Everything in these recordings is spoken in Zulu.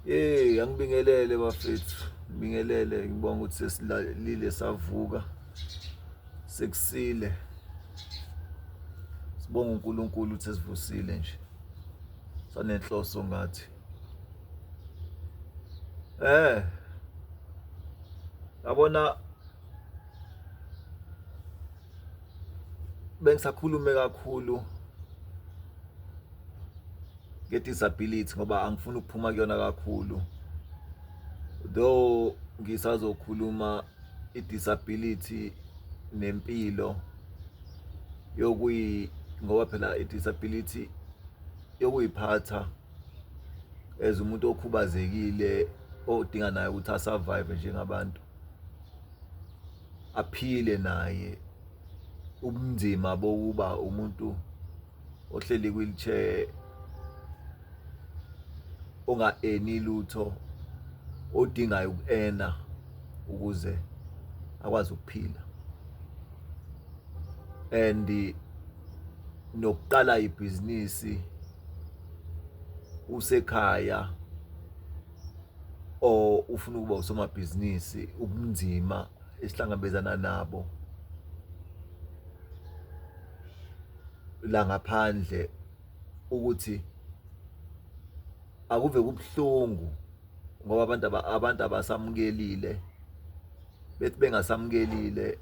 Hey angibingelele bafethu ngibingelele ngibonga ukuthi sesilalile savuka sekusile sibonga uNkulunkulu ukuthi sivusile nje sanenhloso ngathi eh yabona bengisakhulume kakhulu nge-disability ngoba angifuni ukuphuma kuyona kakhulu though ngisazokhuluma i-disability nempilo yokuyi ngoba phela i-disability yokuyiphatha as umuntu okhubazekile odinga naye ukuthi asurvive njengabantu aphile naye ubunzima bokuba umuntu ohleli wheelchair onga eni lutho odingayo ukuena ukuze akwazi ukuphila and nokuqala ibhizinisi usekhaya or ufuna ukuba usomabhizinisi ubunzima esihlangabezana nabo la ngaphandle ukuthi akuve kubuhlungu ngoba abantu abantu abasamukelile bethi bengasamukelile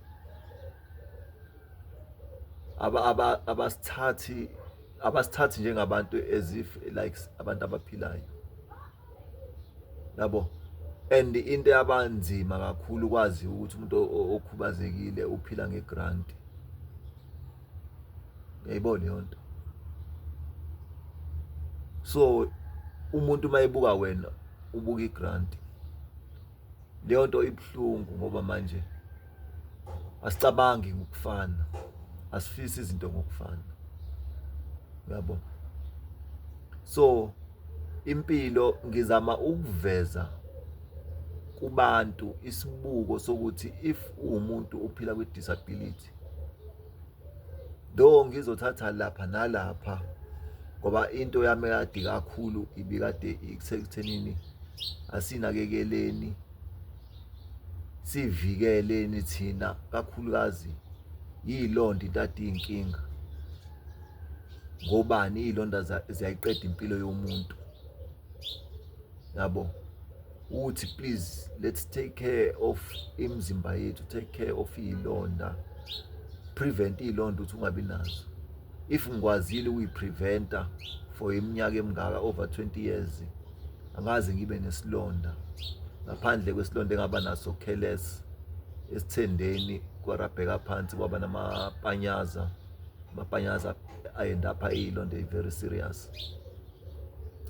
aba aba abasithathi abasithathi njengabantu as if like abantu abaphilayo yabo and into yabanzima kakhulu kwazi ukuthi umuntu okhubazekile uphila ngegrant uyayibona leyo nto so umuntu uma ebuka wena ubuka igrant leyo nto ibuhlungu ngoba manje asicabangi ngokufana asifisi izinto ngokufana yabo so impilo ngizama ukuveza kubantu isibuko sokuthi if uwumuntu ophila kwi disability though ngizothatha lapha nalapha ngoba into yami kade kakhulu ibikade ikuthenini asinakekeleni sivikeleni thina kakhulukazi yilonda into ade iyinkinga ngobani iyilonda ziyayiqeda impilo yomuntu yabo uthi please let's take care of imizimba yethu take care of iyilonda prevent iyilonda ukuthi ungabi nazo if ngikwazile ukuyipreventa for iminyaka emingaka over 20 years angaze ngibe nesilonda ngaphandle kwesilonda engaba naso careless esithendeni kwarabheka phansi kwaba namapanyaza amapanyaza ayenda apha iyilonda very serious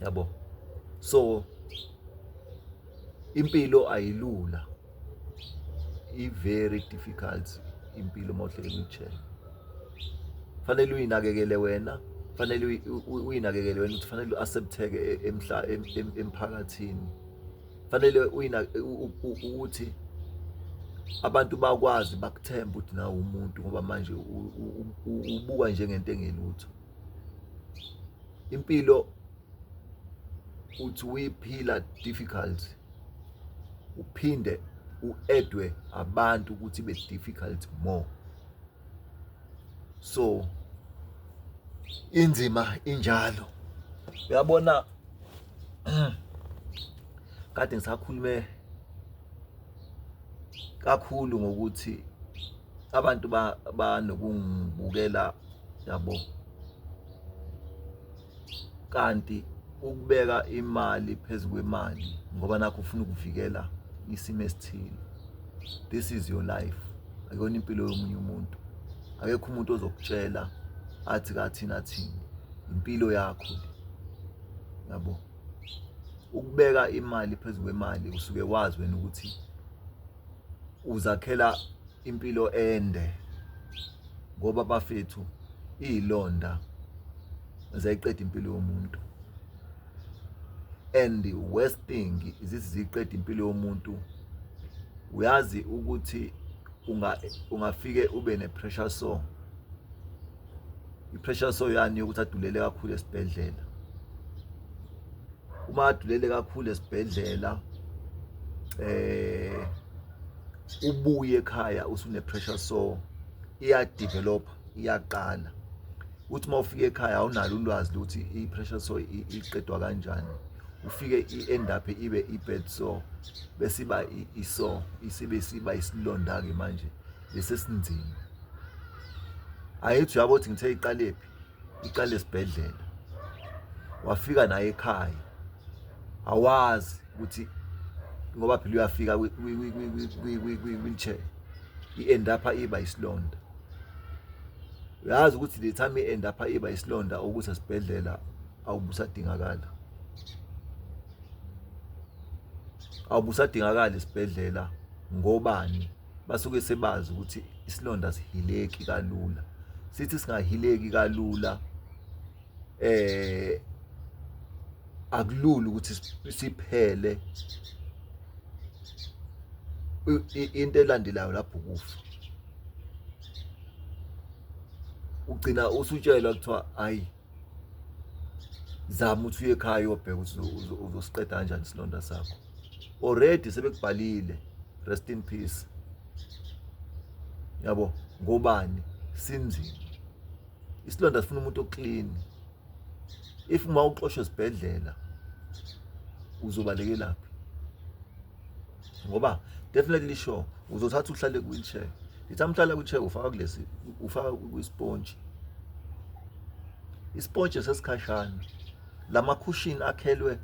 yabo so impilo ayilula i-very difficult impilo uma uhleli ngitshela fanele uyinakekele wena fanele uyinakekele wena ukuthi fanele u-accepteke e-, emhla emphakathini fanele ukuthi abantu bakwazi bakuthembe ukuthi nawe umuntu ngoba manje ubukwa njengento engelutho impilo uthi uyiphila difficult uphinde uedwe abantu ukuthi be difficult more so inzima injalo uyabona kade ngisakhulume kakhulu ngokuthi abantu banokungibukela yabo kanti ukubeka imali phezu kwemali ngoba nakho ufuna ukuvikela isimo esithile this is your life akuyona impilo yomunye umuntu akekho umuntu ozokutshela athi kathina thina impilo yakho yabo ukubeka imali phezu kwemali usuke wazi wena ukuthi uzakhela impilo ende ngoba bafethu izilonda zayiqeda impilo yomuntu and the worst thing izithi ziqeda impilo yomuntu uyazi ukuthi unga ungafike ube ne pressure sore i-pressure soyani yokuthi adulele kakhulu esibhedlela uma adulele kakhulu esibhedlela eh ubuye ekhaya usune pressure so iya develop iyaqala uthi uma ufika ekhaya awunalo ulwazi ukuthi i-pressure so iqedwa kanjani ufike i-end up ibe i-bed so bese iba iso isibe siba isilonda-ke manje lesi esinzima ayithi uyabo ukuthi ngithe iqalephi iqale esibhedlela wafika naye ekhaya awazi ukuthi ngoba phela uyafika kwi-wheelchair i-end up iba isilonda uyazi ukuthi the time i-end up iba isilonda ukuthi esibhedlela awubusadingakala awubusadingakala esibhedlela ngobani basuke sebazi ukuthi isilonda sihileki kalula sithi singahileki kalula eh akulula ukuthi siphele into elandelayo lapho kufa ugcina usutshelwa kuthiwa hayi zama ukuthi uye ekhaya uyobheka ukuthi uzosiqeda kanjani isilonda sakho already sebekubhalile rest in peace yabo ngobani sinzima isilonda sifuna umuntu oclean if uma uxoshwe esibhedlela uzobalekelaphi ngoba definitely sure uzothatha uhlale kwi-wheelchair ngithi amhlala kwi-chair ufaka kulesi ufaka kwisponji isponji sesikhashana lamakhushini akhelwe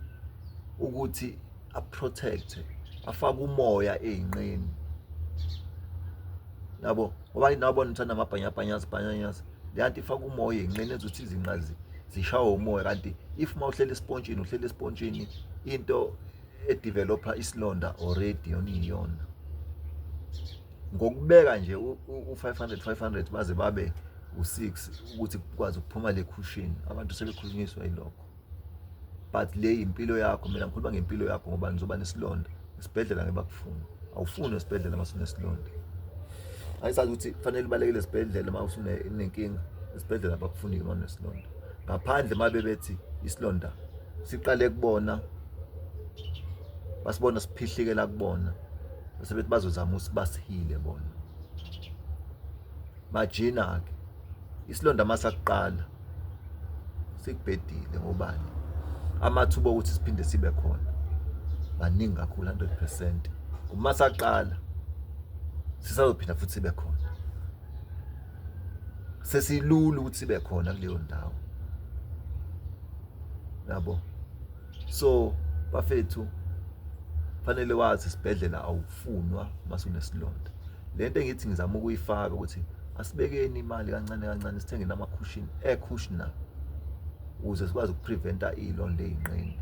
ukuthi aprotect afake umoya ezinqeni yabo ngoba inabo nithanda amabhanyabhanyazi bhanyanyazi leyanto ifaka umoya ezinqeni ezothi izinqa zishawe umoya kanti if mawuhlela espontshini uhlela espontshini into edeveloper isilonda already yona iyona ngokubeka nje u500 500 baze babe u6 ukuthi kwazi ukuphuma le cushion abantu sebekhulunyiswa yilokho but le impilo yakho mina ngikhuluma ngempilo yakho ngoba ngizoba nesilonda isibhedlela ngebakufuna awufuni esibhedlela masunesilonda ayisazi ukuthi kufanele ubalekele esibhedlela uma usunenkinga esibhedlela bakufuni uma unesilonda ngaphandle uma bebethi isilonda siqale kubona basibona siphihlikela kubona bese bethi bazozama usibasihile bona bajina ke isilonda masakuqala sikubhedile ngobani amathuba okuthi siphinde sibe khona maningi kakhulu 100% uma saqala sisazophinda futhi sibe khona sesilula ukuthi sibe khona kuleyo ndawo yabo so bafethu fanele wazi isibhedlela awufunwa masunesilonda lento engithi ngizama ukuyifaka ukuthi asibekeni imali kancane kancane sithenge namakhushini aircushna ukuze sikwazi ukupreventa ilonda eyinqeni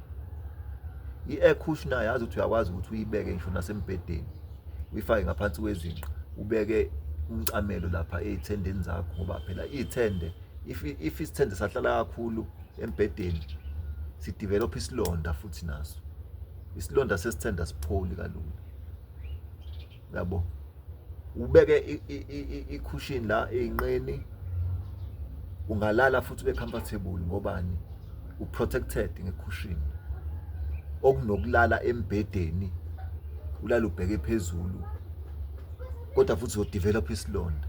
i-aircushna yazi ukuthi uyakwazi ukuthi uyibeke ngisho nasembhedeni uyifake ngaphansi kwezinqa ubeke umcamelo lapha ey'thendeni zakho ngoba phela iy'thende e if if isithende sahlala kakhulu embhedeni sidevelop isilonda futhi naso isilonda sesithende asipholi kalula yabo ubeke icushion la einqeni ungalala futhi ube comfortable ngobani uprotected ngecushion okunokulala embhedeni ulala ubheke phezulu kodwa futhi uzodevelop isilonda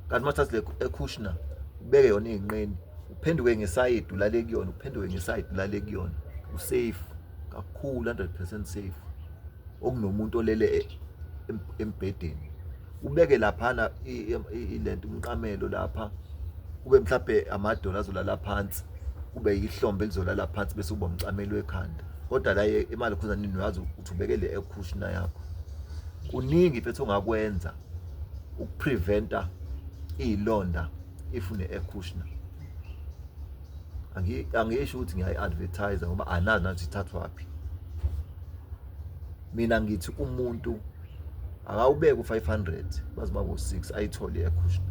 kanti mathatha le ekushna ubeke yona inqeni uphenduke ngesayidi ulale kuyona uphenduke ngesayidi ulale kuyona usafe kakhulu 100% safe okunomuntu olele e, embhedeni ubeke laphana ilento umqamelo lapha kube mhlawumbe amadola azolala phansi kube yihlombe elizolala phansi bese uba umcamelo ekhanda kodwa la imali khuzanini uyazi ukuthi ubekele ekushna yakho kuningi mfethu ongakwenza ukupreventa iy'londa if ne-air cushioner angisho ukuthi ngiyayi-advertise ngoba anazi nathi ithathwaphi mina ngithi umuntu akawubeke u-500 baze babo-6 ayithole i-air cushioner